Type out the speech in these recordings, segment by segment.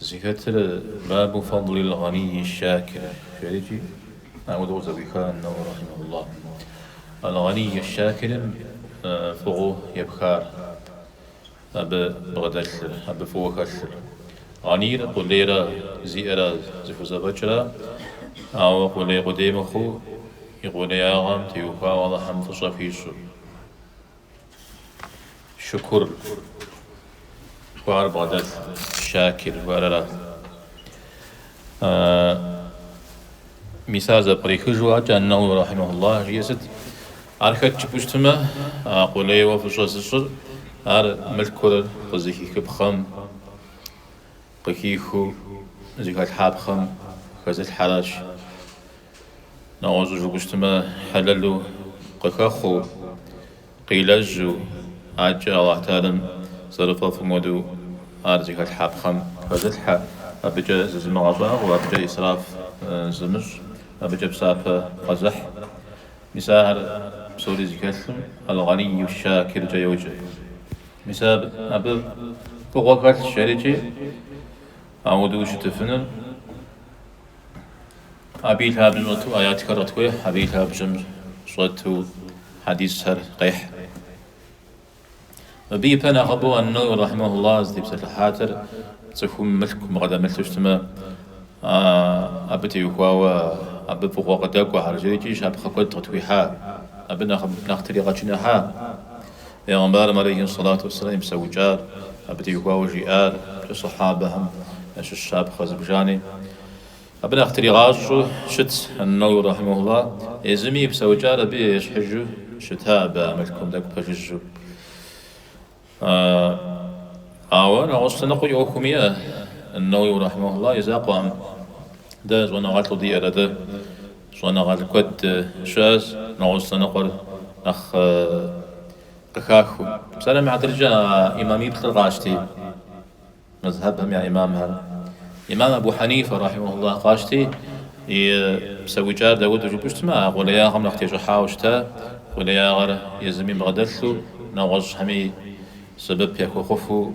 Зыхэтыр Бабу фадлил гъанийи щакири жери икӏи, ауэдэу зэӏуиха Ан-Науауи рахьимахуллаху. Ал гъанийи щакирым фӏыгъуу епхар, абы бгъэдэлъыр, абы фӏыуэ хэлъыр. Гъанийр къулейрэ зиӏэрэ зыхузэфӏэкӏра, ауэ къулей къудей мыхъуу, и къулеягъэм теухуауэ Алыхьым фӏыщӏэ хуищӏу. Шукур жыхуаӏэр бгъэдэлъ, Шакир жыхуаӏэр арат. Мис ар зэпкърихыжу адэкӏэ Ан-Науауи рахьимахуллах жиӏэр сыт? Ар хэт жыпӏу щытмэ, а къулейуэ фӏыщӏэ зыщӏыр, ар мылъкур къызыхихыпхъэм къыхихыу зыхэлъхьапхъэм хэзылъхьэращ. Нэгъуэщӏу жыпӏу щытмэ, хьэлэлу къыхэхъуу, къилэжьу, адэкӏэ Алыхь Таалям зэрыфӏэфӏым хуэдэу ар зыхэлъхьапхъэм хэзылъхьэ, абыкӏэ зызымыгъэщӏагъуэ, абыкӏэ исраф зымыщӏ, абыкӏэ псапэ къэзыхь. Мис ахэр псори зыхэлъым Аль-Гъанийю Щакиркӏэ йоджэ. Мис абы фӏыгъуэ хэлъщ жери икӏи ауэдэу щытыфыныр. Абы и лъабжьэм щӏэту аятхэр къытхуехь, абы и лъабжьэм щӏэту хьэдисхэр къехь. Мыбы ипэ нэхъыбэу Ан-Науауи рахьимэхулла зытепсэлъыхьатыр цӏыхум мылъку бгъэдэмылъу щытмэ, абы теухуауэ абы фӏыгъуэ къыдэкӏуэхэр жери икӏи щапхъэ куэд къытхуихьа, абы нэхъ нэхъ тригъэчыныхьа. Пегъэмбарым алейхи сэлату уэсэлам и псэукӏар, абы теухуауэ жиӏар икӏи сэхьабэхэм ящыщ щапхъэ зыбжани абы нэхъ тригъащӏэу щытт. Ан-Науауи рахьимэхулла езыми и псэукӏар абы ещхьыжу щыта абы а мылъкум тӏэкӏу пэжыжьу. Ауэ нэгъуэщӏ лъэныкъуи ӏуэхум иӏэ. Ан-Науауи рахьимэхулла и закъуэкъым дэ щӏэныгъэлӏу диӏэр атӏэ. Щӏэныгъэлӏ куэд щыӏэщ нэгъуэщӏ лъэныкъуэр нэхъ къыхахыу. Псалъэм и хьэтыркӏэ а ӏимамиплӏыр къащти, мэзхьэбхэм я ӏимамхэр, ӏимам Абу Хьэнифэ, рахьимэхуллахь, къащти, и псэукӏар дауэду жыпӏу щытмэ, а къулеягъэм нэхъ тещӏыхьауэ щыта, къулеягъэр езыми бгъэдэлъу, нэгъуэщӏхэми сэбэп яхуэхъуфу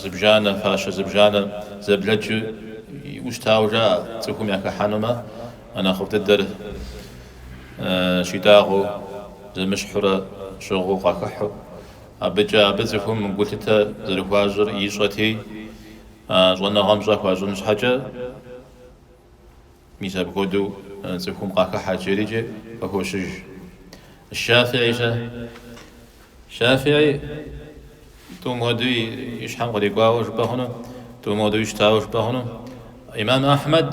Зыбжанэ, фащэ зыбжанэ, зэблэкӏыу иӏу щытауэ жаӏэ, цӏыхум яхыхьэнумэ, а нэхъыфӏ дыдэр щитӏагъыу, зэмыщхьурэ щыгъыу къахыхьу. Абыкӏэ абы цӏыхум гулъытэ зэрыхуащӏыр ищӏэти, а щӏэныгъэм пщӏэ хуащӏын щхьэкӏэ. Мис апхуэдэу цӏыхум къахыхьэт жери икӏи къыхощыж. Щафиӏи щэ? Щафиӏи тӏум хуэдэу и щхьэм кърикӏуауэ жыпӏэ хъуну, тӏум хуэдэуи щытауэ жыпӏэ хъуну. Имам Ахьмэд,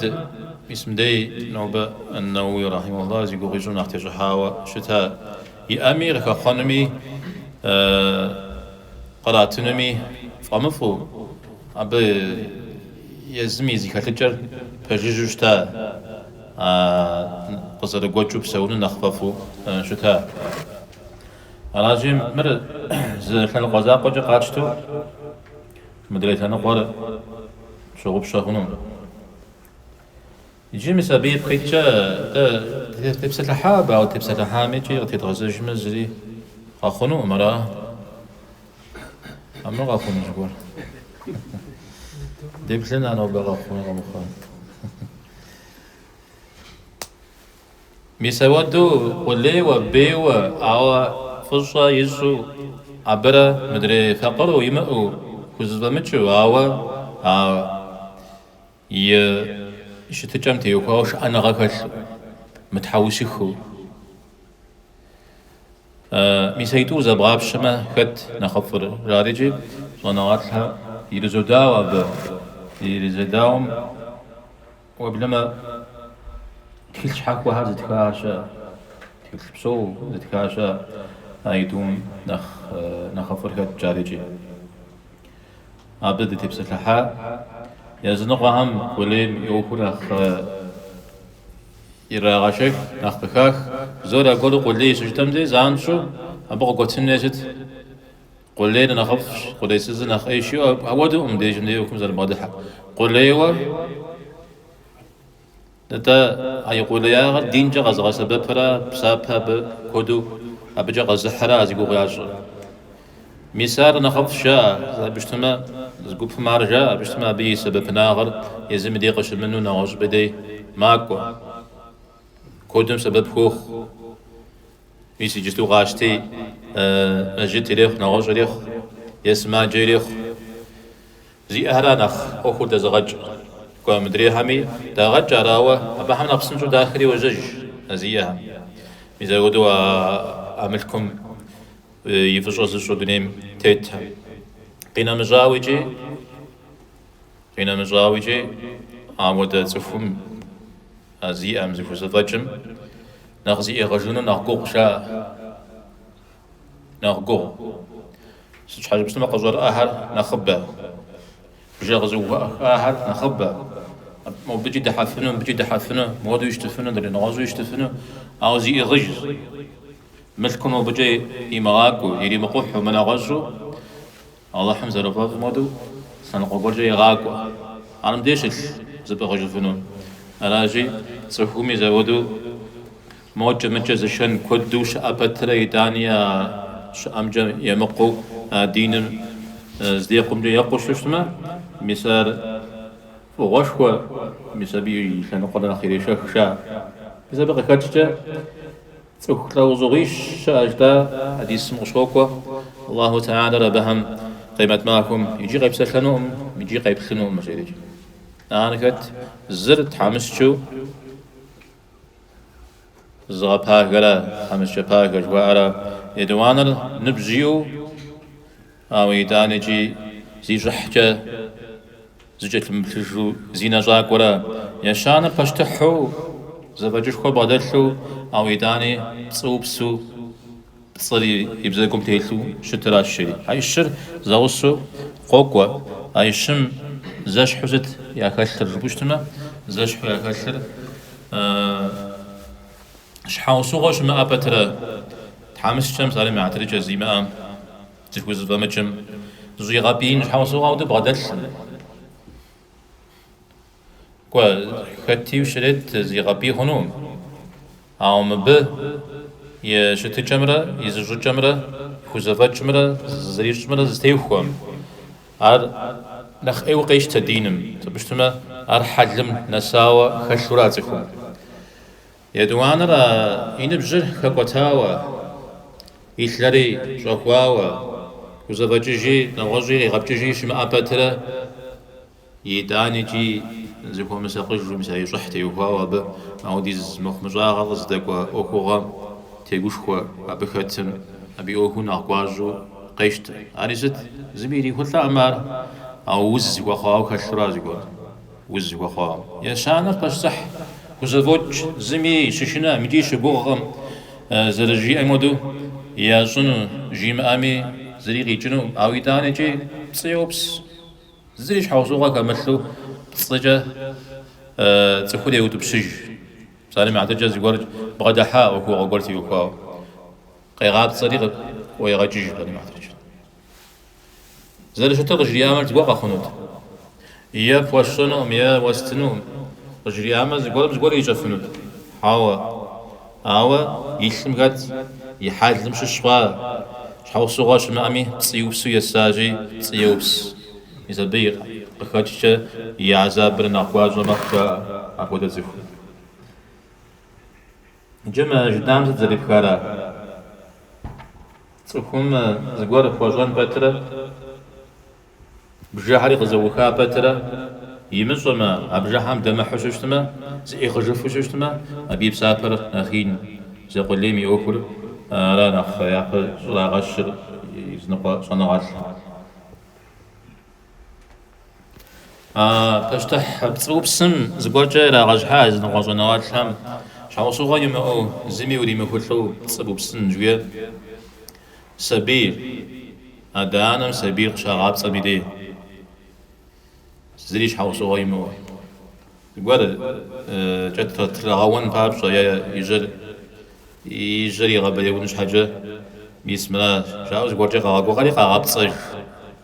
мис мыдей нобэ ан-Науауи рахьимулла зи гугъу ищӏым нэхъ тещӏыхьауэ щыта, иӏэми, къыхэхъуэнуми, къратынуми фӏэмыфӏу, абы Езым и зыхэлъыкӏэр пэжыжьу щыта, а къызэрыгуэкӏыу псэуныр нэхъ фӏэфӏу щыта. Аращи, мыр зы лъэныкъуэ закъуэкӏэ къатщтэу, мыдрей лъэныкъуэр тщыгъупщэ хъунукъым. Иджы мис абы ипкъ иткӏэ дытепсэлъыхьа абы, ауэ дытепсэлъыхьами икӏи къытедгъэзэжмэ зыри къэхъунукъым, ара? Хьэмэрэ къэхъуну зыгуэр? Деплъын а нобэ къэхъуну къэмыхъуну. Мис апхуэдэу къулейуэ, бейуэ, ауэ фӏыщӏэ ищӏу абырэ мыдрей факъыру имыӏэу хузэфӏэмыкӏыу, ауэ а И щытыкӏэм теухуауэ шыӏэныгъэ хэлъу, мытхьэусыхыу. Мис а итӏур зэбгъапщэмэ, хэт нэхъыфӏыр жаӏэри икӏи щӏэныгъэлӏхэр ирызодауэ абы. Ирызэдауэм уеблэмэ, тхылъ щхьэхуэхэр зытха щыӏэ, тхылъ псо зытха щыӏэ а итӏум нэхъ нэхъыфӏыр хэт жаӏэри икӏи. Абы дытепсэлъыхьа языныкъуэхэм къулейм и ӏуэхур нэхъ ирагъэшэх, нэхъ къыхах. Бзор аргуэру къулей щыжытӏэм дей занщӏэу абы къыгуэтын хуей сыт? Къулейр нэхъыфӏщ, къулейсызыр нэхъ ӏейщи, апхуэдэкъым дежьым дей ӏуэхум зэрыбгъэдыхьэр. Къулейуэ. Нтӏэ, а и къулеягъыр динкӏэ къэзыгъэсэбэпыра, псапэ абы куэду абыкӏэ къэзыхьыра а зи гугъу ящӏыр? Мис ар нэхъыфӏщ, жаӏэ абы щытмэ, зы гупым ар жаӏэ абы щытмэ, абы и сэбэпынагъыр езым и дей къыщымыну нэгъуэщӏым дей макӏуэ, куэдым сэбэп хуохъу. Мис иджысту къащти, мэжджыт ирехъу, нэгъуэщӏ ирехъу е сымаджэ ирехъу. Зиӏэхэр ар нэхъ ӏуэхур дэзыгъэкӏ. Кӏуэ мыдрейхэми дагъэкӏ, арауэ абыхэм нэхъ псынщӏэу дахри йожьэж а зиӏэхэм. Мис апхуэдэу а а мылъкум и фӏыщӏэ зыщӏу дунейм тетхэ. Къинэмыщӏауэ икӏи, къинэмыщӏауэ икӏи а модэ цӏыхум, а зиӏэм зыхузэфӏэкӏым нэхъ зиӏыгъыжыну нэхъ гугъущ жаӏэ. Нэхъ гугъу. Сыт щхьэкӏэ жыпӏэмэ къыщӏэрыӏэхэр нэхъыбэ. Бжэ къызэӏухахэр нэхъыбэ. Мобыкӏи дыхьэфыну, мыбыкӏи дыхьэфыну, модэу щытыфыну, дыренэгъуэщӏу щытыфыну, ауэ зиӏыгъыжщ. Мылъкур мобыкӏэ имыгъакӏуэу, иримыкъухьу, мынэгъуэщӏу Алыхьым зэрыфӏэфӏым хуэдэу лъэныкъуэ гуэркӏэ егъакӏуэ ар мыбдеж щылъ зыпӏыгъыжыфыну. Аращи, цӏыхуми зэхуэдэу мокӏэ-мыкӏэ зышэн куэду щыӏэ пэтрэ итӏани а щыӏэмкӏэ емыкъуу а диныр здекъумкӏэ екъуу щытмэ, мис ар фӏыгъуэшхуэ, мис абы и лъэныкъуэр нэхъ ирешэх жаӏэ. Мис абы къыхэкӏкӏэ Цӏыху лӏэужьыгъуищ щыӏэщ, а хьэдисым къыщокӏуэ, Аллаху тэхьэлэр абыхэм къемэт махуэм икӏи къепсэлъэнукъым, икӏи къеплъынукъым жери. Ахэр хэт? Зыр тхьэмыщкӏэу зыгъэпагэра, тхьэмыщкӏэ пагэ жыхуаӏэра, етӏуанэр ныбжь иӏэу, Ауэ итӏанэкӏи зи щӏыхькӏэ зыкӏэлъымыплъыжу зинэщӏакӏуэрэ ещанэ пащтыхьу зэфӏэкӏышхуэ бгъэдэлъу, ауэ итӏани пцӏыупсу пцӏыр и бзэгум телъу щытыращ жери. А ищыр зэгъусэу къокӏуэ, а ищым зэщхьу сыт яхэлъыр жыпӏэу щытмэ, зэщхьу яхэлъыр Щхьэусыгъуэ щымыӏэ пэтрэ, тхьэмыщкӏэм псалъэм и хьэтыркӏэ зимыӏэ зыхузэфӏэмыкӏым, зыщӏигъэпӏиин щхьэусыгъуэ куэд бгъэдэлъкъым. Кӏуэ, хэтуи щрет зигъэпӏий хъунукъым, ауэ мыбы и щытыкӏэмрэ и зыщӏыкӏэмрэ и хузэфӏэкӏымрэ зызэрищӏымрэ зэтехуэкъым. Ар нэхъ ӏейуэ къещтэ диным, сыт жыпӏэу щытмэ, ар хьэлым нэсауэ хэлъура а цӏыхум. Етӏуанэр а и ныбжьыр хэкӏуэтауэ, и лъэри щӏэхуауэ, хузэфӏэкӏыжи, нэгъуэщӏи иригъэпкӏыжи щымыӏэ пэтрэ, итӏаникӏи зыхуэмысакъыжу, мис а и щӏыхь теухуауэ абы а хуэдиз мыхъумыщӏагъэ къызыдэкӏуэ ӏуэхугъуэм тегушхуэ абы хэтым, абы и ӏуэхур нэхъ гуащӏэу къещтэ. Ари сыт? Зыми ирихулӏакъым ар, ауэ уз хуэхъуауэ хэлъуращ зыгуэрым. Уз хуэхъуа. Ещанэр пащтыхь хузэфӏокӏ зыми щышынэкъым икӏи щыгугъкъым, зэрыжиӏэм хуэдэу ящӏыну жимыӏэми зыри къикӏыну, ауэ итӏанэкӏи пцӏы еупс, зыри щхьэусыгъуэ хэмылъу пцӏыкӏэ цӏыхур еутӏыпщыж, псалъэм и хьэтыркӏэ зыгуэр бгъэдыхьа ӏуэхугъуэ гуэр теухуауэ, къегъапцӏэри къыӏуегъэкӏыж псалъэм и хьэтыркӏэ. Зэрыщытыр къыжриӏамэр зыгуэр къэхъунут. Е пхуэсщӏэнукъым, е уэстынукъым. Къыжриӏамэ, зыгуэрым зыгуэр ирищӏэфынут. Хьэуэ. Ауэ и лъым хэт, и хьэлым щыщ хъуа, щхьэусыгъуэ щымыӏэми, пцӏиупсу есажьи, пцӏы еупс. Мис абы и къыхэкӏкӏэ и гьэзабыр нэхъ гуащӏэ мэхъу, жаӏэ апхуэдэ цӏыхум. Иджы мы жытӏам сыт зэрипхара? Цӏыхум зыгуэр хуэщӏэн пэтрэ, бжыхьри къызэӏуха пэтрэ, имыщӏэмэ, а бжыхьэм дэмыхьэу щыщытмэ, зыӏигъыжыфу щыщытмэ, абы и псапэр нэхъ ин. Зы къулейм и ӏуэхур ара нэхъ япэ щӏрагъэщыр, языныкъуэ щӏэныгъэлӏыр. А пащтыхь пцӏыупсым зыгуэркӏэ ирагъэщхьа языныкъуэ щӏэныгъэлӏхэм щхьэусыгъуэ имыӏэу, зыми уримыхулӏэу пцӏыупсын жиӏэр? Сабий, адэ-анэм сабийр къыщагъапцӏэм и дей, зыри щхьэусыгъуэ имыӏэу. Зыгуэркӏэ трагъэун папщӏэ е и жьэр и жьэр игъэбэяун щхьэкӏэ мис мыра жаӏэу зыгуэркӏэ къагъэгугъэри къагъэпцӏэж.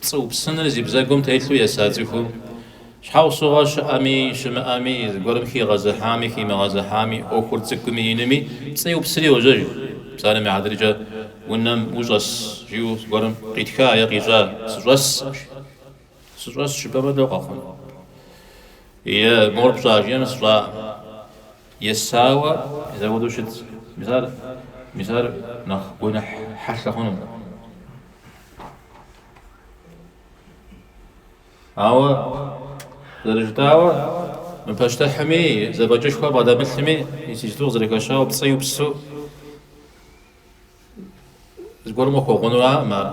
Пцӏы упсыныр зи бзэгум телъу еса цӏыхум, щхьэусыгъуэ щыӏэми, щымыӏэми, зыгуэрым хигъэзыхьами, химыгъэзыхьами, ӏуэхур цӏыкӏуми, инуми, пцӏы еупсри йожьэж. Псалъэм и хьэтыркӏэ, Унэм ущӏэс, жиӏэу зыгуэрым къитха е къищӏа? Сыщӏэс, жи. Сыщӏэс жыпӏэмэ, лӏо къэхъун? Е мор пщӏа, жиӏэм, сщӏакъым. Есауэ еса хуэдэу щытт. Мис ар, мис ар нэхъ гуэныхь хьэлъэ хъунукъым. Ауэ, зэрыжытӏауэ, мы пащтыхьым и зэфӏэкӏышхуэ бгъэдэмылъми, иджыпсту къызэрыхэщауэ пцӏиупсу зыгуэрым къыхуэгъунураӏым ар.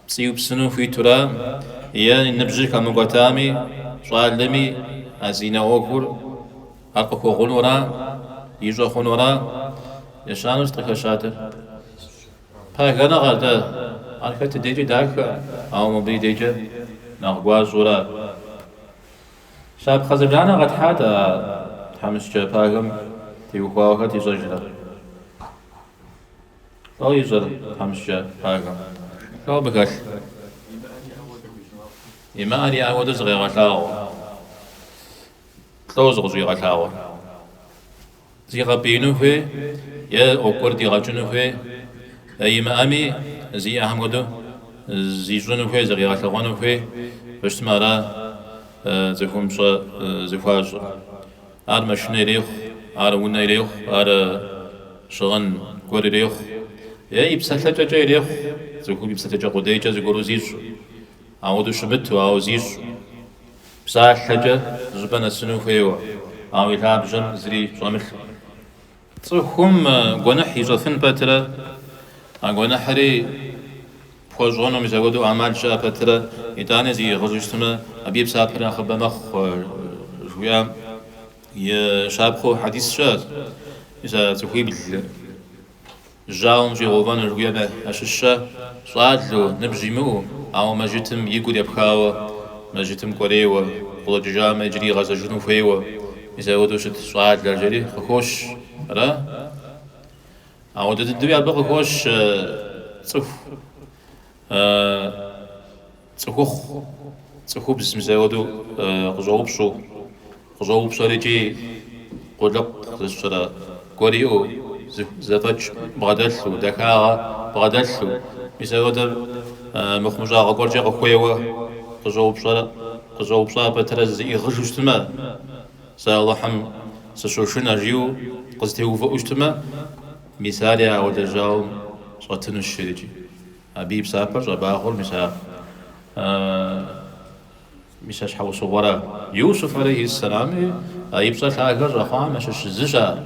Пцӏиупсыну хуитура е и ныбжьыр хэмыкӏуэтами, щӏалэми а зинэ ӏуэхур ар къыхуэгъунура, ищӏэ хъунура, ещанэу сыт къыхэщатэр? Пагэныгъэ, атӏэ, ар хэт и дейкӏэ дахэ, ауэ мыбы и дейкӏэ нэхъ гуащӏэурэ щапхъэ зыбжанэ къэтхьат а тхьэмыщкӏэ пагэм теухуауэ хэт ищӏэжрэ? Лӏо ищӏэр тхьэмыщкӏэ пагэм? Лӏо абы хэлъ? Имыӏэр иӏэ хуэдэу зыкъегъэлъагъуэ. Лӏо зыкъыщӏигъэлъагъуэр. Зигъэпӏеину хуей е ӏуэхур дигъэкӏыну хуей е имыӏэми, зиӏэхэм хуэдэу зищӏыну хуей, зыкъигъэлъэгъуэну хуейуэ щытмэ, ара цӏыхум пщӏэ зыхуащӏыр. Ар машинэ ирехъу, ар унэ ирехъу, ар щыгъын гуэр ирехъу е и псэлъэкӏэкӏэ ирехъу. Цӏыхум и псэлъэкӏэ къудейкӏэ зыгуэру зищӏу, ауэдэу щымыту, ауэ зищӏу. Псалъэкӏэ зыщӏыпӏэ нэсыну хуейуэ, ауэ и лъабжьэм зыри щӏэмылъу. Цӏыхум гуэныхь ищӏэфын пэтырэ а гуэныхьри пхуэщӏэну мис ауэдэу ӏэмал щыӏэ пэтырэ итӏани зиӏыгъыжу щытмэ, абы и псапэр нэхъыбэ мэхъу, жыхуиӏэм и щапхъэу хьэдис щыӏэщ, Мис а цӏыхуибл. Жьауэм щӏигъэувэну жыхуиӏэм ящыщщэ, щӏалэу, ныбжь имыӏэу, ауэ мэжытым и гур епхауэ, мэжытым кӏуэрейуэ, къыщӏэкӏыжамэ, иджыри игъэзэжыну хуейуэ, мис апхуэдэу щыт щӏалэ жери къыхощ. Ара? Ауэдэ дыдэуи абы къыхощ цӏыху. Цӏыхухъу цӏыхубз мис ауэдэу къыщӏэупщӏэу, къыщӏэупщӏэр икӏи къулыкъу зыщӏрэ гуэр иӏэу, зэфӏэкӏ бгъэдэлъу, дахагъэ бгъэдэлъу, мис ауэдэр мыхъумыщӏагъэ гуэркӏэ къыхуейуэ къыщӏэупщӏа пэтырэ зиӏыгъыжу щытмэ, сэ Алыхьым сыщошынэ жиӏэу къызэтеувыӏэу щытмэ, мис ари ауэдэу жьауэм щӏэтынущ ар икӏи. Абы и псапэр щӏэбагъуэр мис а мис а щхьэусыгъуэра Юсуф алейхьи сэлами и пщӏэ лъагэ щӏэхъуам ящыщ зыщ ар.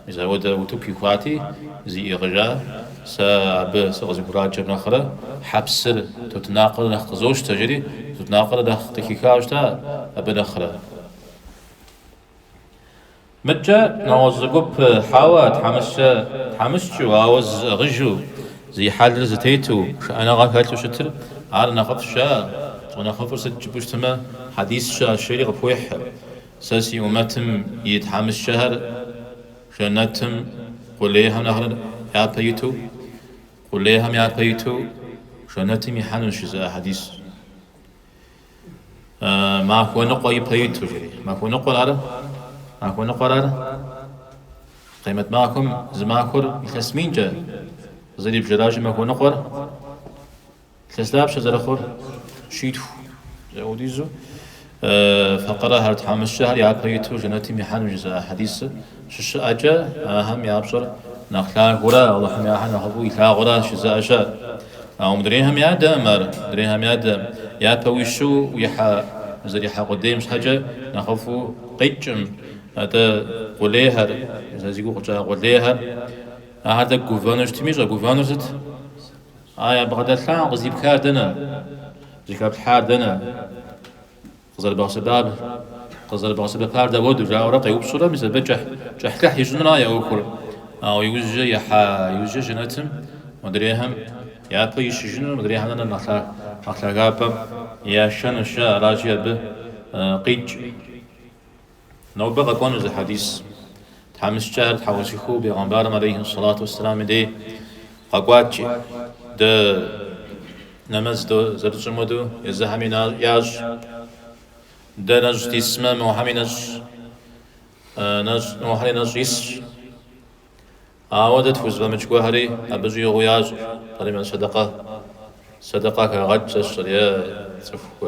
Мис ауэдэ утыку ихуати, зиӏыгъыжа, Сэ абы сыкъызыхураджэм нэхърэ хьэпсыр тутнакъыр нэхъ къызощтэ, жери тутнакъыр нэхъ къыхиха щыта абы нэхърэ. Мыдкӏэ нэгъуэщӏ зы гуп хьэуэ, тхьэмыщкӏэу, ауэ зызыӏыгъыжу, зи хьэлыр зэтету, шыӏэныгъэ хэлъу щытыр, ар нэхъыфӏща? Щӏэнэхъыфӏыр сыт жыпӏэу щытмэ, хьэдис щыӏэщ жери къыпхуехь, Сэ си умэтым и тхьэмыщкӏэхэр жэнэтым къулейхэм нэхърэ япэ иту, къулейхэм япэ иту жэнэтым ихьэнущ жызыӏэ хьэдисыр. Махуэ ныкъуэ ипэ иту, жери. Махуэ ныкъуэр ары? Махуэ ныкъуэр ары? Къемэт махуэм зы махуэр илъэс минкӏэ зэрибжыращи, махуэ ныкъуэр илъэс дапщэ зэрыхъур щитху хуэдизу факъырэхэр тхьэмыщкӏэхэр япэ иту жэнэтым ихьэну жызыӏа хьэдисыр. щыщыӏэкӏэ, ахэм я пщӏэр нэхъ лъагэурэ Алыхьым ахэр нэхъыфӏу илъагъурэ щызэӏэщат. Ауэ мыдрейхэм ядэкъым ар, мыдрейхэм ядэкъым, япэ уищу уихьэ зэрихьэ къудейм щхьэкӏэ нэхъыфӏу къикӏкъым. Атӏэ, къулейхэр, зэ зи гугъу къыкӏа къулейхэр, ахэр тӏэкӏу гувэну щытми, щӏэгувэнур сыт? А бгъэдэлъар, къыздипхар дэнэ? Зыхэплъхьар дэнэ? Къызэрыбгъэсэбар, къызэрыбгъэсэбэпар дауэду? жаӏэурэ къеупщӏурэ, мис абы кӏыхь, кӏыхьлӏыхь ищӏынура я ӏуэхур. Ауэ иужькӏэ ихьа иужькӏэ жэнэтым, модрейхэм япэ ищыжыну, модрейхэм нэхърэ нэхъ лъагапӏэм яшэнущ, жаӏэ. Аращи, абы къикӏ. Нобэ къэкӏуэну зы хьэдис. Тхьэмыщкӏэхэр тхьэусыхыу бегъэмбарым алейхи сэлату уэсселам и дей къэкӏуат икӏи, дэ нэмэз до зэрытщӏым уэду езыхэми ящӏ, дэ нэщӏ дисмэ мохэми нэщӏ, нэщӏ мохэри нэщӏ исщ. Ауэ дэ тхузыфӏэмыкӏ гуэрхэри абы щӏигъуу ящӏ, пэри мэз сэдэкъэ, сэдэкъэ хагъэкӏ зэщӏыр е цӏыху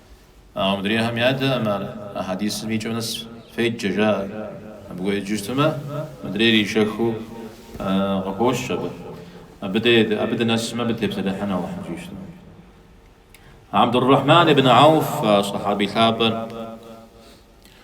Ауэ мыдрейхэм ядэӏым ар, а хьэдисым и кӏэм нэс феджэ, жаӏэр. Абы гуэкӏыжыфтэмэ, мыдрейр ишэхыу къыхощ абы. Абы дэ, абы дынэсмэ, абы тепсэлъыхьын Алыхьым дыщӏищтэмэ. Абдуррахьман ибн Ауф а сэхьэбий лъапӏэр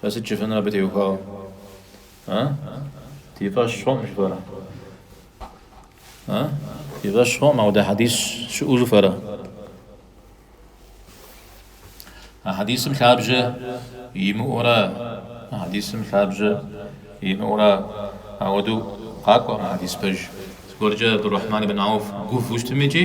Фэ сыт жыфӏэнур абы теухуауэ? А? Ди фӏэщ хъуӏым жыфӏэрэ? А? Ди фӏэщ хъуӏым ауэдэ хьэдис щыӏэу жыфӏэрэ? А хьэдисым лъабжьэ имыӏэурэ, а хьэдисым лъабжьэ имыӏэурэ ауэдэу къакӏуэкъым а хьэдис пэж. Зыгуэркӏэ Абдул-Рахьман ибн Ауф гувэу щытми икӏи,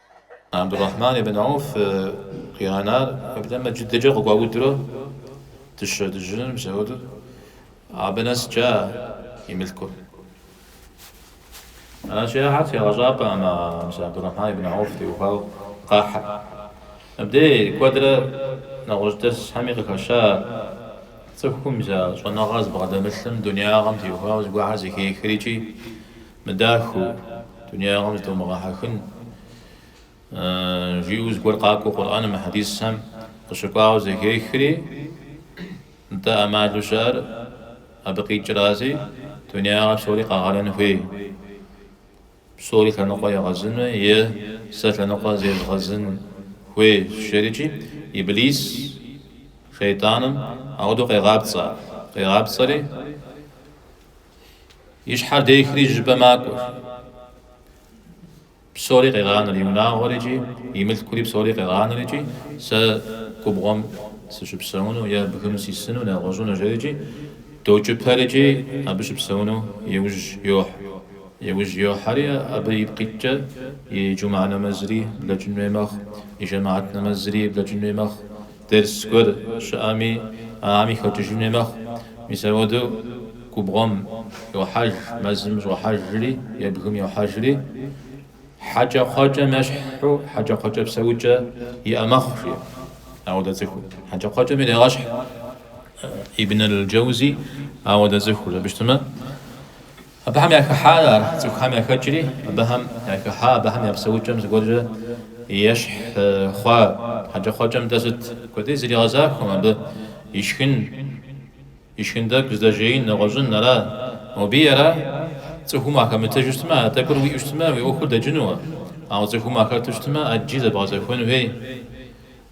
Абдурахьман ибн Ауф къигъэнар уеплъмэ, джыдэкӏэ къыгуаудурэ дыщэ дыжьын, мис ауэдэу абы нэскӏэ и мылъкур. Аращи, ахэр тегъэщӏапӏэ ӏэмэ мис Абдурахьман ибн Ауф теухуауэ къахьыр. Мыбдеж куэдрэ нэгъуэщӏ дэрсхэми къыхэща цӏыхум я щӏэныгъэр зыбгъэдэмылъым, дуняягъэм теухуауэ зыгуэрхэр зэхехыр икӏи Мыдахыу, дунеягъэм зытумыгъэхьэхын, жиӏэу зыгуэр къакӏуэ Къурӏэным е хьэдисхэм къыщыкӏуауэ зэхехри, нтӏэ ӏэмалу щыӏэр абы къикӏрази, дунеягъэ псори къэгъэнэн хуей, псори лъэныкъуэ егъэзыну е сэ лъэныкъуэ зезгъэзын хуей жери икӏи, Иблис, шейтӏаным, ауэдэу къегъапцӏэ, къегъапцӏэри, И щхьэр дехри жьыпӏэ макӏуэр. Псори къегъанэр, и унагъуэр икӏи, и мылъкури псори къегъанэр икӏи, сэ губгъуэм сыщыпсэуну е бгым сисыну, нэгъуэщӏыну жери икӏи, докӏыпэр икӏи, абы щыпсэуну иужь йохь. Иужь йохьэри, абы ипкъ иткӏэ и джумэ нэмэзри блэкӏын хуей мэхъу, и жэмыгьэт нэмэзри блэкӏын хуей мэхъу. Дерс гуэр щыӏэми, ахэм ихэкӏыжын хуей мэхъу. Мис апхуэдэу губгъуэм йохьэж, мэзым щӏохьэжри е бгым йохьэжри, хьэкӏэкхъуэкӏэм ещхьу хьэкӏэкхъуэкӏэ псэукӏэ иӏэ мэхъу, жи ауэдэ цӏыхур. Хьэкӏэкхъуэкӏэм ирегъэщхь Ибн аль-Джэузи ауэдэ цӏыхур. Абы щытмэ, Абыхэм яхыхьарэ, цӏыхухэм яхэкӏри, абыхэм яхыхьа, абыхэм я псэукӏэм зыгуэркӏэ ещхь хъуа хьэкӏэкхъуэкӏэм-тӏэ сыт къудей зэригъэзахуэм абы ишхын, ишхын тӏэкӏу здэжеин, нэгъуэщӏын ара? Мобыи ара? Цӏыхум уахэмытыжу щытмэ, а тӏэкӏур уиӏэу щытмэ, уи ӏуэхур дэкӏынуэ, ауэ цӏыхум уахэту щытмэ, ӏэджи зэбгъэзэхуэн хуей.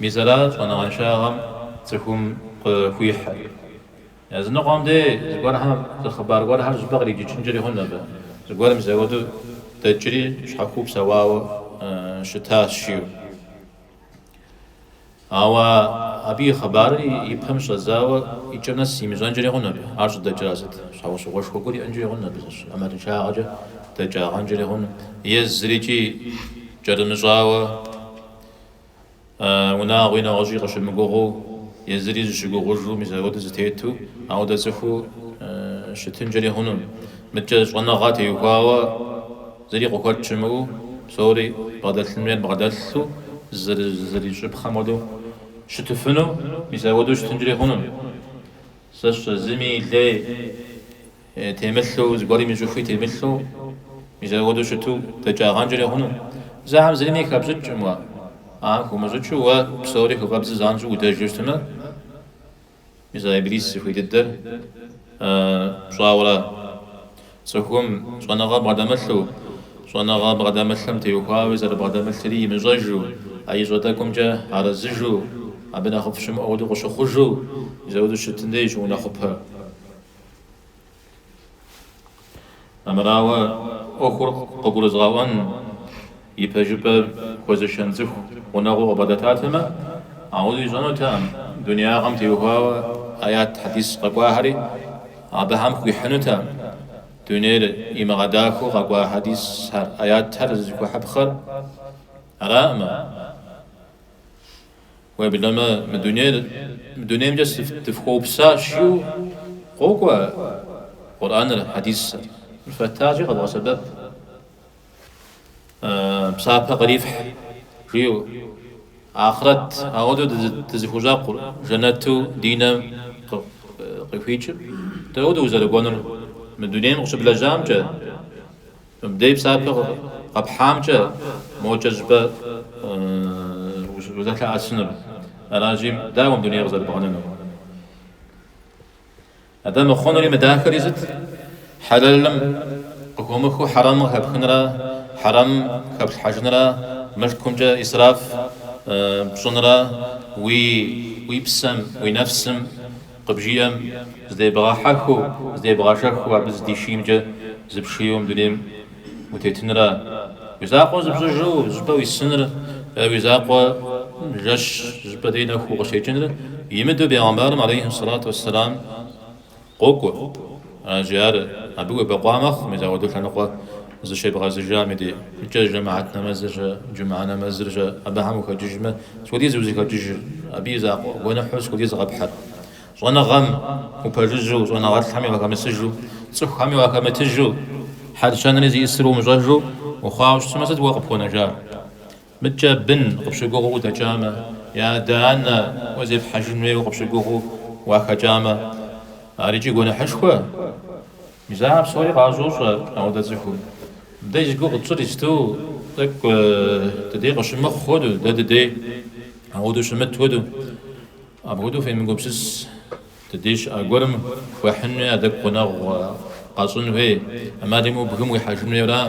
Мис аращ щӏэныгъэншагъэм цӏыхум къыхуихьыр. Языныкъуэм дей зыгуэрхэм зы хъыбар гуэрхэр щӏыпӏэ къриджыкӏынкӏэри хъунт абы. Зыгуэр мис ауэду дэкӏри, щхьэхуу псэуауэ щытащ жиӏэу. Ауэ абы и хъыбарыр и пэм щӏэдзауэ икӏэм нэс имыщӏэнкӏэри хъунт абы. Ар щӏыдэкӏа сыт? Щхьэусыгъуэшхуэ гуэр иӏэнкӏэри хъунт абы зыщ. ӏэмалыншагъэкӏэ дэкӏагъэнкӏэри хъунт. Е зырикӏи кӏэрымыщӏауэ. Унагъуи нэгъуэщӏи къыщымыгугъыу, езыри зыщыгугъыжу, мис апхуэдэу зытету, ауэдэ цӏыхуу щытынкӏэри хъунум. Мыдкӏэ щӏэныгъэ теухуауэ зыри къыхуэт щымыӏэу, псори бгъэдэлъын хуейр бгъэдэлъу, зэрыщӏыпхъэм хуэдэу щытыфыну, мис апхуэдэу щытынкӏэри хъунум. Сэ сщӏэ, зыми и лей Темылъу, зыгуэрым и щӏыхуи темылъу, мис апхуэдэу щыту дэкӏагъэнкӏэри хъунущ. Ахэм зырми хэпщӏыкӏкъым уэ. Ахэр хыумыщӏыкӏыу уэ псори хыфӏэбдзу занщӏэу удэжу щытмэ, мис а Иблис зыхуей дыдэр пщӏауэра? Цӏыхум щӏэныгъэ бгъэдэмылъу, щӏэныгъэ бгъэдэмылъым теухуауи зэрыбгъэдэмылъри имыщӏэжу, а ищӏэ тӏэкӏумкӏэ арэзыжу, абы нэхъыфӏ щымыӏэу хуэдэу къыщыхъужу, мис апхуэдэу щытым дей щыунэхъупэ. Армырауэ, ӏуэхур къыгурызыгъэӏуэн, и пэжыпӏэ хуэзышэн цӏыху гъунэгъуу къыбгъэдэтатэмэ, ауэ ищӏэнутэкъым, дуниягъэм теухуауэ аят, хьэдис къэкӏуахэри абыхэм хуихьынутэкъым. Дунейр имыгъэдахэу къэкӏуа хьэдисхэр, аятхэр зызыхуэхьыпхъэр араӏымэ. Уеблэмэ, мы дунейр мы дунеймкӏэ дыфхуэупсащи, къокӏуэ Къурӏэныр, хьэдисыр. Мыр фэттащи, къэвгъэсэбэп, псапэ кърифхь, жиӏэу, ахърэт ауэдэу дызыхущӏэкъур, жэнэту ди нэм къыхуикӏыр, дауэ дызэрыкӏуэнур? Мы дунейм къыщыблэжьамкӏэ. Мыбдеж псапэ къэпхьамкӏэ мокӏэ щӏыпӏэ узэлъэӏэсынур аращи, дауэ мы дунейр къызэрыбгъэнэнур? Атӏэ мыхъунури мыдахэри сыт? Хьэлэлым къыхомыхыу хьэрэмым къыхэпхынра, хьэрэмым хэплъхьэжынра, мылъкумкӏэ исраф пщӏынра, уи псэм, уи нэфсым, Къыбжиӏэм, здебгъэхьэхыу, здебгъэшэхыу абы зыдишиймкӏэ зыпшийуэ мы дунейм утетынра? Уи закъуэ зыпщӏыжу зыщӏыпӏэ уисыныр е уи закъуэ жэщ зыщӏыпӏэ дей нэхуу укъыщекӏыныр имыдэу бегъымбарым алейхьи сэлату уэсселам къокӏуэ. Аджи ар абы уебэкъуа мэхъу, мис ауэдэу лъэныкъуэ зыщебгъэзыжам и дейкӏэ жэмыхьэт нэмэзыр-щэ, джумыхьэ нэмэзыр-щэ, абыхэм ухэкӏыжмэ, сыт хуэдиз узыхэкӏыжыр, абы и закъуэ гуэныхьу сыт хуэдиз къэпхьыр. Щӏэныгъэм упэжыжьу, щӏэныгъэлӏхэми уахэмысыжу, цӏыхухэми уахэмытыжу, хьэл-щэнри зиӏысыр умыщӏэжу ухъуауэ щытмэ, сыт уэ къыпхуэнэжар? Мыдкӏэ бын къыпщыгугъыу удэкӏамэ, е адэ-анэ уэ зепхьэжын хуейуэ къыпщыгугъыу уахэкӏамэ, ар икӏи гуэныхьышхуэ? Мис ахэр псори къащощӏ ауэдэ цӏыхум. Дэ зи гугъу тщӏыр иджыпсту тӏэкӏу дыдей къыщымыхъу хуэдэу, дэ дыдей ауэдэу щымыт хуэдэу, апхуэдэу фемыгупсыс. Дыдей щыӏэ гуэрым хуехьынуи а тӏэкӏу гъунэгъу къэщӏын хуей. ӏэмал имыӏэу бгым уихьэжын хуейра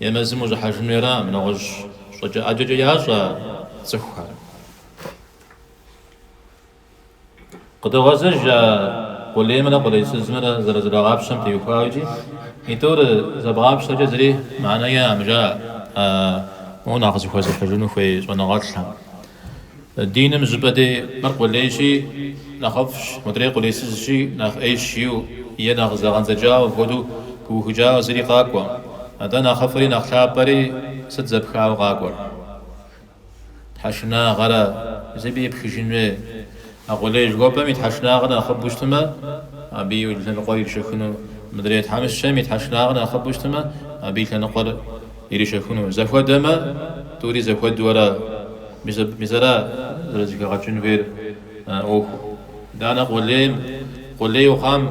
е мэзым ущӏыхьэжын хуейра? Абы нэгъуэщӏ щӏыкӏэ ӏэджэкӏэ ящӏэ цӏыхухэр. Къыдогъэзэж а къулеймрэ къулейсызымрэ зэрызэрагъапщэм теухуауэ икӏи итӏур зэбгъапщэкӏэ зыри мыхьэнэ яӏэм, жаӏэ а моуэ нэхъ зыхуэзыхьыжыну хуей щӏэныгъэлӏхэм. Диным жьыпӏэ дей мыр къулейщи, нэхъыфӏщ, мыдрей къулейсызщи, нэхъ ӏейщ иу, е нэхъ зэгъэндзэкӏауэ хуэдэу пыухыкӏауэ зыри къакӏуэ. Атӏэ нэхъыфӏри нэхъ лъапӏэри сыт зэпхауэ къакӏуэр? Тхьэшынагъэращ, абы епхыжын хуей. А къулей жыхуэпӏэм и тхьэшынагъэр нэхъыбэу щытмэ, абы и лъэныкъуэр иришэхыну, мыдрей тхьэмыщкӏэм и тхьэшынагъэр нэхъыбэу щытмэ, абы и лъэныкъуэр Ирищэхуну зэхуэдэмэ, тӏури зэхуэду ара? Мис ара зэрызэхэгъэкӏын хуейр а ӏуэхур? Итӏанэ къулейм, къулейуэ хъуам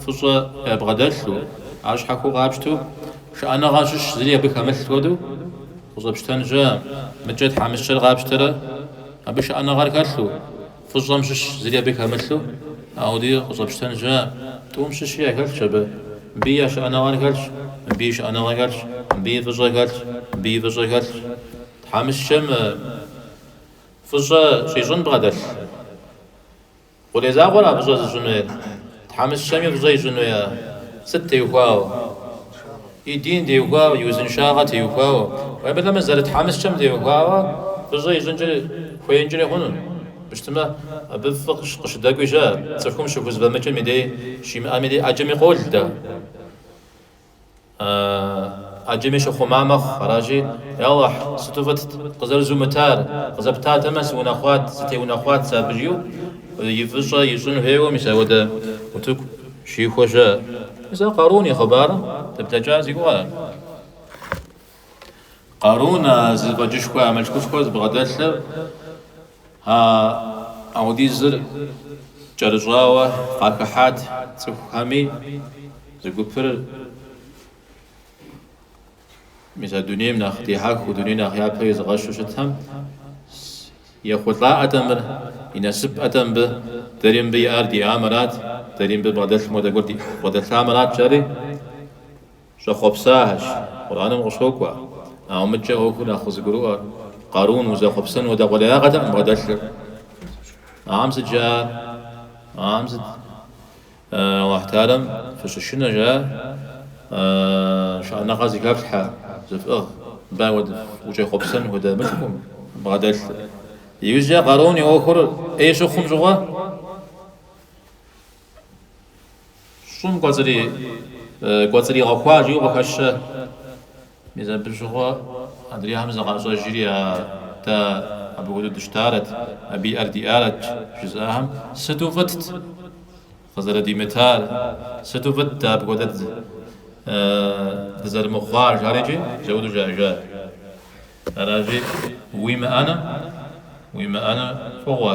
фӏыщӏэ ябгъэдэлъу, ар щхьэхуэу къапщту, шыӏэныгъэ щыщ зыри абы хэмылъ хуэдэу къыщӏэпщтэн щыӏэ. Мыдкӏэ тхьэмыщкӏэр къапщтэрэ, абы шыӏэныгъэр хэлъу, Фӏыщӏэм щыщ зыри абы хэмылъу, ауди къыщӏэпщтэн щыӏэ, тӏум щыщи яхэлъщ абы. Мыбыи шыӏэныгъэр хэлъщ, мыбыи шыӏэныгъэр хэлъщ, мыбыи фӏыщӏэ хэлъщ, мыбыи фӏыщӏэ хэлъщ. Тхьэмыщкӏэм фӏыщӏэ щӏищӏын бгъэдэлъ. Къулей закъуэра фӏыщӏэр зыщӏын хуейр. Тхьэмыщкӏэми фӏыщӏэ ищӏын хуей ар? Сыт теухуауэ? И дин теухуауэ, и узыншагъэ теухуауэ. Уеблэмэ, зэрытхьэмыщкӏэм теухуауэ фӏыщӏэ ищӏынкӏэ хуеинкӏэри хъуну? Мыщтмэ, абы фӏы къыщыдэкӏуи щыӏэ, цӏыхум щыхузэфӏэмыкӏым и дей щимыӏэм и дей ӏэджэми къол дэ. Ӏэджэми щыхъума мэхъу, аращи, Я Алыхь, сыту фӏытт, къызэрызумытар, къызэптатэмэ, сыунэхъуат, сытеунэхъуат сэ абы, жиӏэу и фӏыщӏэ ищӏын хуейуэ, мис апхуэдэ утыку щихуэ щыӏэ. Мис ар Къарун и хъыбарым дыблэкӏа зи гугъу ар. Къарун а зэфӏэкӏышхуэ, а мылъкушхуэр зыбгъэдэлъыр, а аудизыр кӏэрыщӏауэ къахыхьат цӏыхухэми, зы гупыр мис а дунейм нэхъ дихьэхыу, дуней нэхъ япэ изыгъэщу щытхэм, ехъулӏа атӏэ мыр, и насып атӏэ мыбы, дэри мыбы иӏар диӏамэрат, дэри мыбы бгъэдэлъым хуэдэ гуэр дбгъэдэлъамэрат, жари? Щӏэхъуэпсахэщ, Къурӏэным къыщокӏуэ. Ауэ мыдкӏэ ӏуэхур нэхъ къызыгурыӏуэр Къарун узэхъуэпсэну хуэдэ къулеягъэтэкъым бгъэдэлъыр. Ахэм сыт жаӏэр? Ахьэм сыт? Алыхь Тэхьэлам фыщышынэ жаӏэ, шыӏэныгъэ зыхэфлъхьэ, зыфӏыгъ, мыбы ауэдэ ущӏэхъуэпсэну хуэдэ мылъкукъым бгъэдэлъыр. Иужькӏэ Къарун и ӏуэхур ӏей щыхъум щыгъуэ? Щӏым кӏуэцӏри, кӏуэцӏригъэхуа жиӏэу къыхэщэ. Мис абы щыгъуэ адрейхэм зыкъащӏэжри, а, дэ абы хуэдэу дыщытарэт, абы иӏэр диӏарэт, жызӏахэм, сыту фӏытт къызэрыдимытар, сыту фӏытт дэ апхуэдэ дызэрымыхъуар, жари икӏи зэуду жаӏэжат. Аращи, уимыӏэну, уимыӏэну фӏыгъуэ.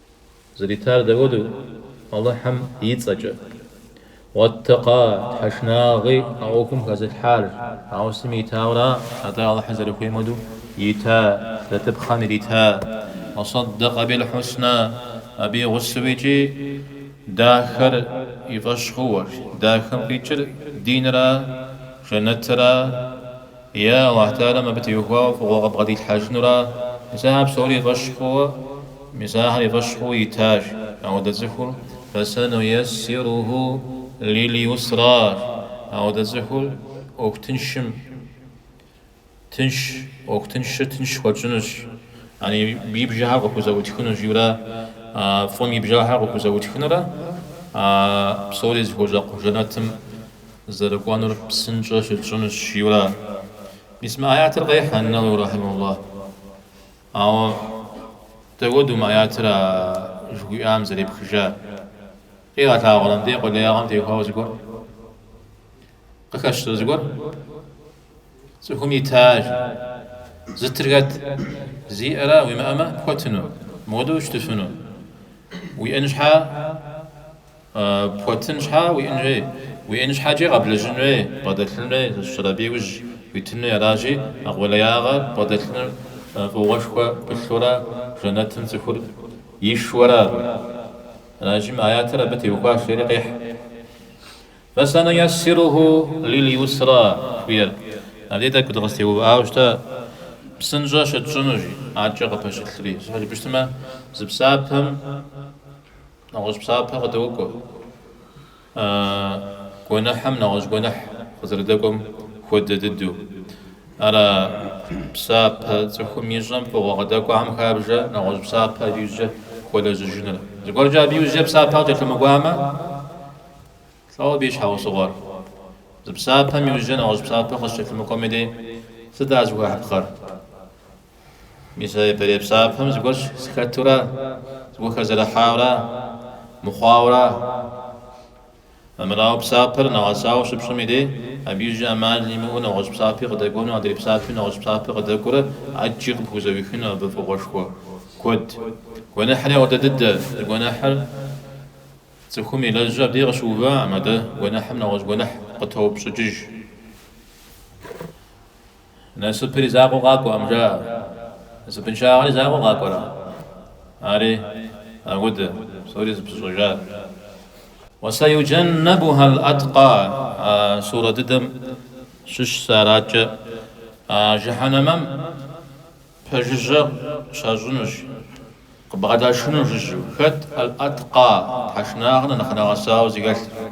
Зэритар дауэдэу? Алыхьым и цӏэкӏэ. Уэттэкъа, Тхьэ шынагъи а ӏуэхум хэзылъхьар, ауэ сытми итауэра, атӏэ Алыхьыр зэрыхуейм хуэдэу ита, зэтыпхъэм ирита. Уасоддэкъэ бил хьуснэ, абы и гъусэу икӏи дахэр и фӏэщ хъуар, дахэм къикӏыр динра, жэнэтра. Е Алыхь Теалэм абы теухуауэ фӏыгъуэ къыбгъэдилъхьэжынура? Мис ахэр псори и фӏэщ хъууэ, мис ахэр и фӏэщ хъууэ итащ. Ауэдэ цӏыхур Фасануяссируху лил-юсра. Ауэдэ цӏыхур ӏуэху тыншым тынш, ӏуэху тыншыр тынш хуэтщӏынущ, яни абы и бжэхэр къыхузэӏутхынущ, жиӏэурэ фӏым и бжэхэр къыхузэӏутхынурэ псори зыхуэщӏэкъу жэнэтым зэрыкӏуэнур псынщӏэ щытщӏынущ, жиӏэурэ мис мы аятыр къехь Ан-Навави рахьимахуллаху. Ауэ дауэду мы аятыр а жыхуиӏам зэрепхыжар? Къигъэлъагъуэрэ мыбдеж къулеягъэм теухуауэ зыгуэр? Къыхэщрэ зыгуэр? Цӏыхум итащ, зытыр хэт? Зиӏэра, уимыӏэмэ пхуэтыну, мыуэдэу ущытыфыну. Уиӏэн щхьа Пхуэтын щхьа уиӏэн хуей? Уиӏэн щхьэкӏи къэблэжьын хуей, бгъэдэлъын хуейщ, ар абы иужьу итын хуей аращи, а къулеягъэр бгъэдэлъыныр фӏыгъуэшхуэ пылъурэ жэнэтым цӏыхур ишуэрэ абы. Аращи, мы аятыр абы теухуащ, жери къехь. Фасануяссируху лил-юсра жыхуиӏэр. Абдей тӏэкӏу дыкъыстеувыӏауэ щытэ, псынщӏэ щытщӏыну, жи. Адэкӏэ къыпэщылъри. Зыхуэкӏыпщтмэ, зы псапэм. Нэгъуэщӏ псапэ къыдокӏуэ. А гуэныхьым нэгъуэщӏ гуэныхь къызэрыдэкӏуэм хуэдэ дыдэу. Ар а псапэ цӏыхум ищӏэм фӏыгъуэ къыдэкӏуахэм хабжэ нэгъуэщӏ псапэ абы иужькӏэ хуэлэжьыжыныр. Зыгуэркӏэ абы иужькӏэ псапэ къыкӏэлъымыкӏуамэ, лӏэуэ абы и щхьэусыгъуэр. Зы псапэм иужькӏэ нэгъуэщӏ псапэ къыщыкӏэлъымыкӏуэм и дей сыт ар зыхуэхьыпхъэр? Мис а япэрей псапэм зыгуэрщ зыхэтура, зыгуэр хэзэрыхьаура, мыхъуаура. Армырауэ, псапэр нэгъэсауэ щыпщӏэм и дей, абы иужь ӏэмал имыӏэу нэгъуэщӏ псапи къыдэкӏуэну, адрей псапи нэгъуэщӏ псапи къыдэкӏуэурэ ӏэджи къыпхузэӏуихыну абы фӏыгъуэшхуэ куэд. Гуэныхьри ауэдэ дыдэ, зы гуэныхьыр цӏыхум илэжьу абдеж къыщыувам, адэ гуэныхьым нэгъуэщӏ гуэныхь къытоупщӏыкӏыж. Насыпри закъуэу къакӏуэкъым, жаӏэ. Насыпыншагъэри закъуэу къакӏуэрэ? Ари, аудэ, псори зыпыщӏэжар. Уасаюджаннабуха л-аткъа, а сурэ дыдэм щыщ сэ араткӏэ, а жыхьэнэмэм пэжыжьэ щащӏынущ, къыбгъэдашыну жыжьэу. Хэт ал-аткъа, тхьэшынагъэр нэхъ нэгъэсауэ зыхэлъыр?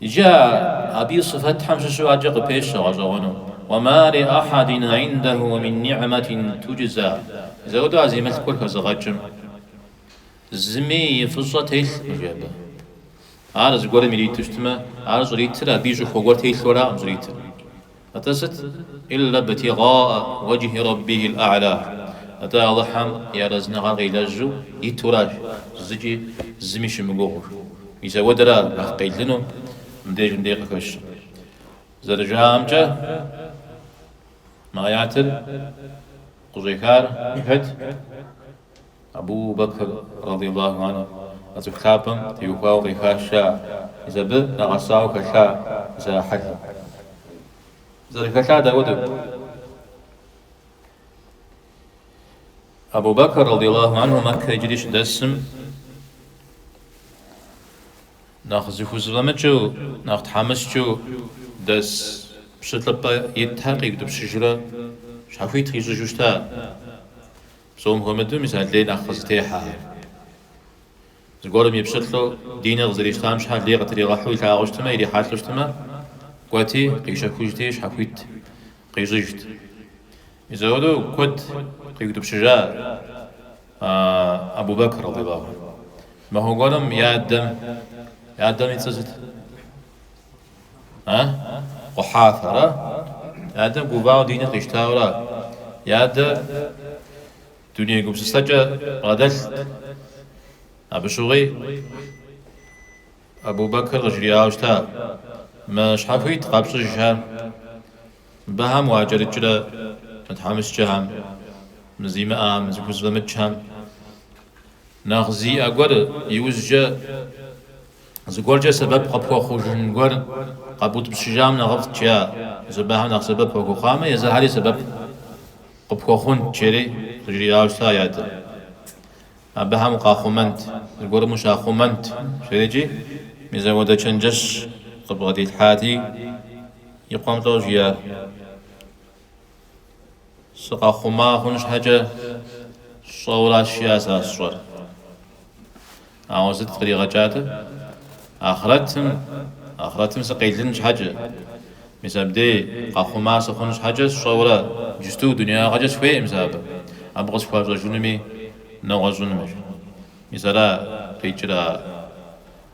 Иджы абы и сыфэтхэм щыщу адэкӏэ къыпещэ гъэщӏэгъуэну. Уэ ма ли ахьэдин индаху мин нигьмэтин туджза. Зэуэдэу а зи мылъкур хэзыгъэкӏым зыми и фӏыщӏэ телъкъым, жи абы. Ар зыгуэрым ириту щытмэ, ар щӏритыр абы и щӏыхуэ гуэр телъу аракъым щӏритыр. Атӏэ сыт? Илля бтигъаа уэджхи Рэббихил а'ля. Атӏэ Алыхьым и арэзыныгъэр къилэжьу итуращ, зыкӏи зыми щымыгугъыу. Мис ауэдэра нэхъ къелыну мыбдеж мыбдеж къыхэщ. Зэрыжаӏэмкӏэ, мы аятыр къыщӏехар хэт? Абу Бэкр, радыйаллаху анху, а цӏыху лъапӏэм теухуауэ къехащ ар, мис абы нэгъэсауэ хэлъа мис а хьэлыр. Зэрыхэлъар дауэдэу? Абу Бэкр, радыйаллаху анху, Мэккэ иджыри щыдэсым, нэхъ зыхузыфӏэмыкӏыу, нэхъ тхьэмыщкӏэу дэс пщылӏыпӏэ итхэр къиутӏыпщыжурэ щхьэхуит къищӏыжу щыта. Псом хуэмыдэу мис а лей нэхъ къызытехьэхэр. Зыгуэрым и пщылӏу, диныр къызэрищтам щхьэ лей къытригъэхьэу илъагъуу щытмэ, ирихьэлӏэу щытмэ, кӏуэти, къищэхужти, щхьэхуит къищӏыжт. Мис ауэдэу куэд къиутӏыпщыжа Абу-Бэкр, радиаллаху анху. Махуэ гуэрым и адэм и цӏэ сыт? А? Къухьафэрэ? Ядэм гувауэ диныр къищтауэра? Ядэм дуней гупсысэкӏэ бгъэдэлът. Абы щыгъуи Абу-Бэкр къыжриӏауэ щыта, Мы щхьэхуит къэпщӏыжхэм, мыбыхэм уакӏэрыкӏрэ мы тхьэмыщкӏэхэм, мы зимыӏэхэм, зыхузэфӏэмыкӏхэм? Нэхъ зиӏэ гуэр иужькӏэ Зыгуэркӏэ сэбэп къыпхуэхъужын гуэр къэбутӏыпщыжам нэхъыфӏт жаӏэ, мис абыхэм нэхъ сэбэп уахуэхъуамэ, езыхьэри сэбэп къыпхуэхъунт жери къыжриӏауэ щыта и адэм. Абыхэм укъахъумэнт, зыгуэрым ущахъумэнт, жери икӏи, мис ауэдэ чэнджэщ къыбгъэдилъхьати, и къуэм лӏо жиӏар. Сыкъэхъума хъун щхьэкӏэ сщӏэуращ жиӏащ сэ сщӏэр. Ауэ сыт къригъэкӏатэ? Ахърэтым, ахърэтым сыкъелын щхьэкӏэ. Мис абдей къэхъума сыхъун щхьэкӏэ сщӏэурэ иджысту дунеягъэкӏэ сыхуейкъым сэ абы, абы къысхуащӏэжынуми нэгъуэщӏынумэщ. Мис ара къикӏыр а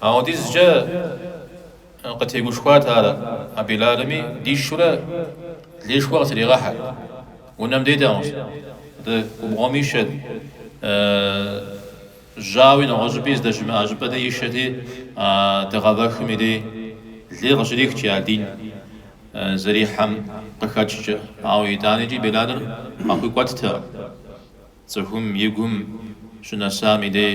Апхуэдизкӏэ къытегушхуат ар а Белалми, дишурэ лейшхуэ къытыригъэхьэрт. Унэм дейтэкъым, адэ губгъуэм ишэт, жьауи нэгъуэщӏыпӏи здэщымыӏэ щӏыпӏэ дей ишэти, а дыгъэвэхым и дей лей къыщрихт а дин зэрихьэм къыхэкӏкӏэ. Ауэ итӏаникӏи Белалыр къахуикӏуэттэкъым цӏыхум и гум щынэсам и дей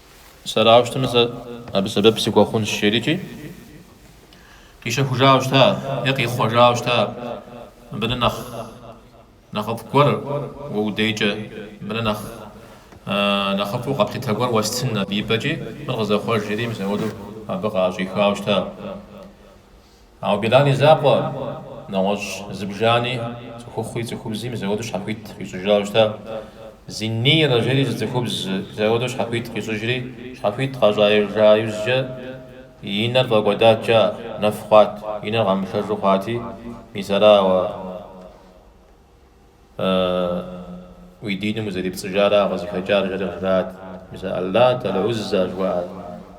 Сэрауэ щытамэ сэ абы сэбэп сыхуэхъунщ, жери икӏи, къищэхужауэ щыта е къихъуэжауэ щыта мыбы нэхъ нэхъыфӏ гуэр уэ уи дейкӏэ, мыбы нэхъ нэхъыфӏу къэплъытэ гуэр уэстын абы и пӏэкӏи, мыр къызэхъуэж, жери мис апхуэдэу абы къаӏэщӏихауэ щыта. Ауэ Белал и закъуэ, нэгъуэщӏ зыбжани, цӏыхухъуи цӏыхубзи мис апхуэдэу щхьэхуит къищӏыжауэ щытащ. Зиннирэ жери зы цӏыхубз мис апхуэдэу щхьэхуит къищӏыжри, щхьэхуит къащӏыжа иужькӏэ и нэр фӏэкӏуэдаткӏэ нэф хъуат, и нэр къэмыплъэжу хъуати, мис арауэ, Ааа, уи диным узэрепцӏыжара къызыхэкӏар жраӏат, мис а Аллат, Аль-Узза жыхуаӏэр,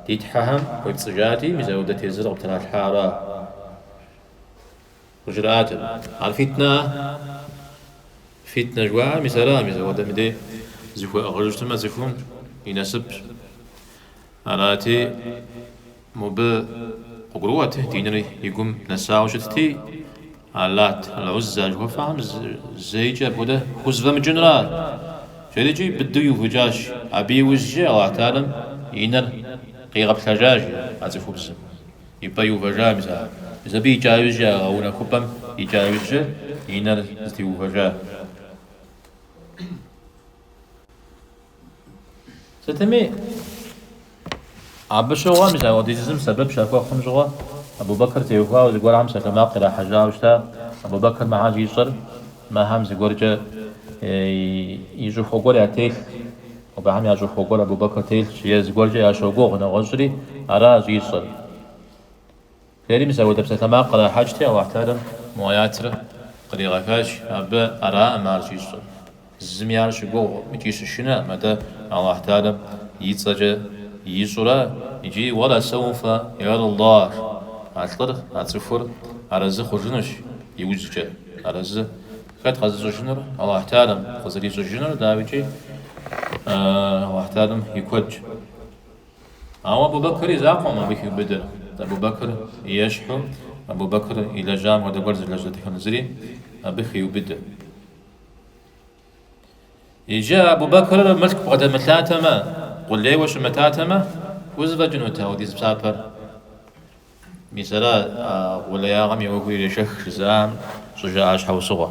ди Тхьэхэм уепцӏыжати, мис апхуэдэ тезыр къыптралъхьара? Къыжраӏэт, Ар фитнэӏэ? Фитнэ жыхуаӏэр мис ара, мис апхуэдэм дей зыхуэӏыгъыжыфтымэ цӏыхум и насыпщ. Арати, мыбы къыгурыӏуэт диныр и гум нэсауэ щытти, Аллат, Аль-Узза жыхуэфӏэхэм зэикӏэ апхуэдэ хузэфӏэмыкӏынра? Жери икӏи быдэу иувыкӏащ. Абы иужькӏэ Аллахь Тэхьэлам и нэр къигъэплъэжащ а цӏыхубзым. И пӏэ иувэжа, мис, а, мис абы икӏа ужькӏэ, а гъэунэхупӏэм икӏа ужькӏэ и нэр зэтеувэжа. Сытми, абы щыгъуэ мис апхуэдизым сэбэп щахуэхъум щыгъуэ Абу-Бэкыр теухуауэ зыгуэрхэм псалъэмакъ ирахьэжьауэ щыта, Абу-Бэкыр мыхэр щӏищӏэр мыхэм зыгуэркӏэ и щӏыхуэ гуэр ятелъ, абыхэм я щӏыхуэ гуэр Абу-Бэкыр телъщ, е зыгуэркӏэ ящогугъ, нэгъуэщӏри ара щӏищӏэр. Ари мис апхуэдэ псалъэмакъ кърахьэкӏти, Алыхьталэм мо аятыр къригъэхащ, абы араӏым ар щӏищӏыр. Зыми ар щыгугъӏым икӏи щышынэӏым, атӏэ Алыхьталэм и цӏэкӏэ ищӏу ара икӏи Уэла сэуфэ ярда, а лӏыр, а цӏыхур арэзы хъужынущ иужькӏэ. Арэзы хэт къэзыщӏыжынур? Алыхьталэм къызэрищӏыжынур дауикӏи Алыхьталэм и куэдщ. Ауэ Абу-Бэкыр и закъуэӏым абы хиубыдэр Абу-Бэкыр и ещхьу, Абу-Бэкыр илэжьам хуэдэ гуэр зылэжь дэтхэнэ зыри абы хиубыдэр. Иджы Абу-Бэкыр мылъку бгъэдэмылъатэмэ, къулейуэ щымытатэмэ, хузэфӏэкӏынут апхуэдиз псапэр. Мис ара а къулеягъэм и уэгур ирешэх жызыӏам щӏыжаӏа щхьэусыгъуэ.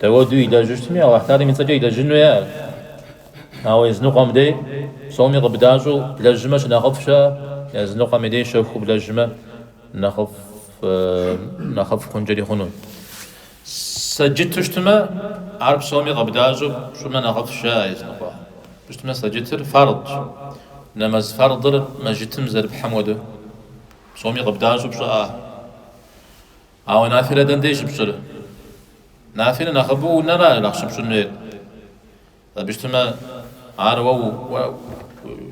Дауэду илэжьыщтми, Алыхьталэм и цӏэкӏэ илэжьын хуейӏэ. Ауэ языныкъуэм дей псоми къыбдащӏэу блэжьмэ щынэхъыфӏ щыӏэ, языныкъуэми дей щэхуу блэжьмэ нэхъыфӏ хъункӏэри хъуну. Сэджыту щытмэ, ар псоми къыбдащӏэу пщӏымэ нэхъыфӏ щыӏэ, языныкъуэ щытмэ сэджытыр фэрдщ. Нэмэз фэрдыр мэжытым зэрыпхьым хуэдэу, псоми къыбдащӏэу пщӏыӏэ. Ауэ нафилэ дэнде щыпщӏыр? Нафилэ нэхъыбэу унэра нэхъ щыпщӏын хуейр? Абы щытмэ, ар уэ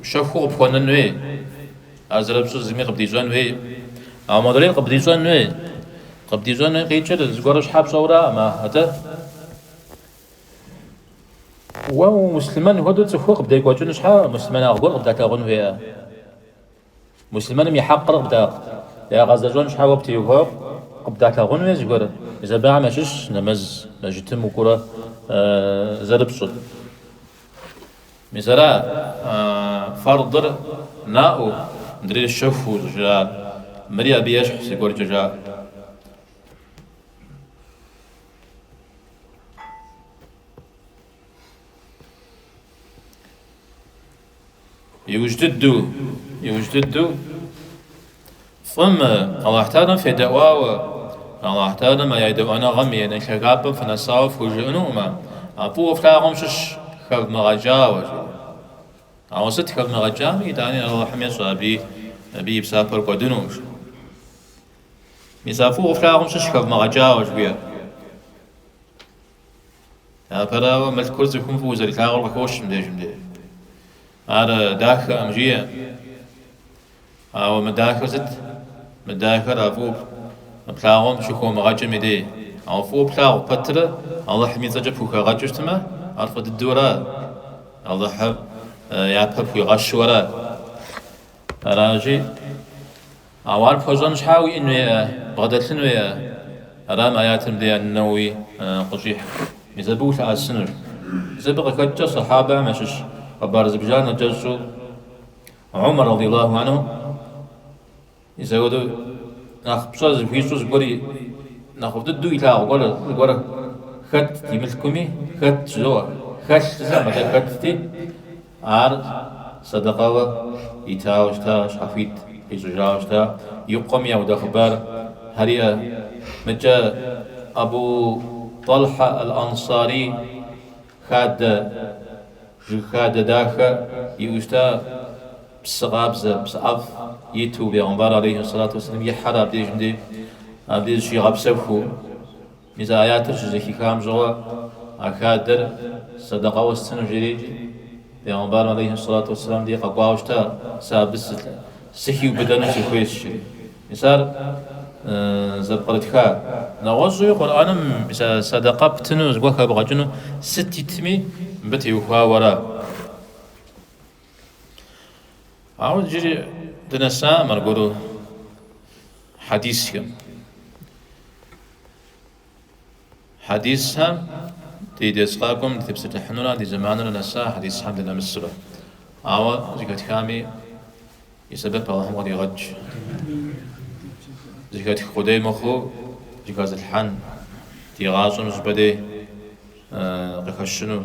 щэхуу къыпхуэнын хуей, ар зэрыпщӏыр зыми къыбдищӏэн хуей. Ауэ мыдрейр къыбдищӏэн хуей. Къыбдищӏэн хуей къикӏыр зыгуэру щхьэ пщӏэураӏым, атӏэ? Уэ муслъымэн хуэдэу цӏыхур къыбдекӏуэкӏыну щхьэ муслъымэнагъ гуэр къыбдалъагъун хуейӏэ? Муслъымэным и хьэкъыр къыбда, ягъэзэщӏэн щхьэ уэ птеухуауэ къыбдалъагъун хуейӏэ зыгуэр. Мис абыхэм ящыщщ нэмэз мэжытым укӏуурэ зэрыпщӏыр. Мис ара фэрдыр наӏуэу, мыдрейр щэхуу щӏыжаӏар. Мыри абы ещхь зыгуэркӏэ жаӏэрт. Иужь дыдэу, иужь дыдэу фӏым Алыхьталэм федэӏуауэ, Алыхьталэм а едэӏуэныгъэм и нэхъ лъагапӏэм фынэсауэ фхужыӏэнукъым, а фӏыуэ флъагъум щыщщ хэвмыгъэкӏауэ, жыӏэу. Ауэ сыт хэвмыгъэкӏами, итӏани Алыхьым ещӏэ аби, абы и псапэр кӏуэдынукъым, жыӏэу. Мис а фӏыуэ флъагъум щыщщ хэвмыгъэкӏауэ жыхуиӏэр. Апэрауэ, мылъкур цӏыхум фӏыуэ зэрилъагъур къыхощ мыбдежым деж. Ар дахэкъым, жиӏэ. Ауэ мыдахэр сыт? Мыдахэр а фӏыуэ плъагъуэм щыхэумыгъэкӏым и дей. Ауэ фӏыуэ плъагъу пэтрэ Алыхьым и цӏэкӏэ пхухэгъэкӏыу щытмэ, ар фӏы дыдэу ара? Алыхьыр япэ пхуигъэщу ара? Аращи, Ауэ ар пхуэщӏэн щхьа уиӏэну, бгъэдэлъыну. Ара мы аятыр мыбдеж ан-Нэуэуи къыщӏихьыр. Мис абы улъэӏэсынур. Мис абы къыхэкӏкӏэ Сэхьабэхэм ящыщ хъыбар зыбжанэ кӏэщӏу Умар радий Аллаху анху и зэуэдэу нэхъ пщӏэ зыхуищӏу зыгуэр и нэхъыфӏ дыдэу илъагъу гуэр зыгуэр хэтт и мылъкуми, хэтт жызоӏэ, хэлъ жызэм, атӏэ хэттти, Ар сэдэкъэуэ итауэ щыта, щхьэхуит къищӏыжауэ щыта, и къуэм яуда хъыбар Хьэрия. Мыкӏэ Абу Тӏалхьэ ӏэл-ӏэнсари хадэ, жыг хадэ дахэ иӏэу щыта, псы къабзэ, псы ӏэфӏ иту, бегъымбар алейхьи сэлату уэсэлам ихьэрэ абдежым де, абдеж щигъэпсэхуу. Мис а аятыр щызэхихам щыгъуэ а хадэр сэдэкъэуэ стыну жери икӏи, Пэйгъэмбарым алейхьи сэлату уэсэлам дей къэкӏуауэ щыта сэ абы сыхиубыдэну сыхуейщ жри. Мис ар зэпкърытха нэгъуэщӏуи Къурӏэным мис а сэдэкъэ птыну зыгуэр хэбгъэкӏыну сыт итми мыбы теухуауэ ара? Ауэ иджыри дынэсакъым аргуэру хьэдисхэм. Хьэдисхэм ди дерс къакӏуэм дытепсэлъыхьыну ара, ди зэманыр нэса хьэдисхэм дынэмысрэ. Ауэ зыхэтхами и сэбэп Алыхьым къыдигъэкӏ. Зыхэтх къудей мыхъуу зыхэзылъхьэн, ди гъащӏэм щӏыпӏэ дей къыхэщыну.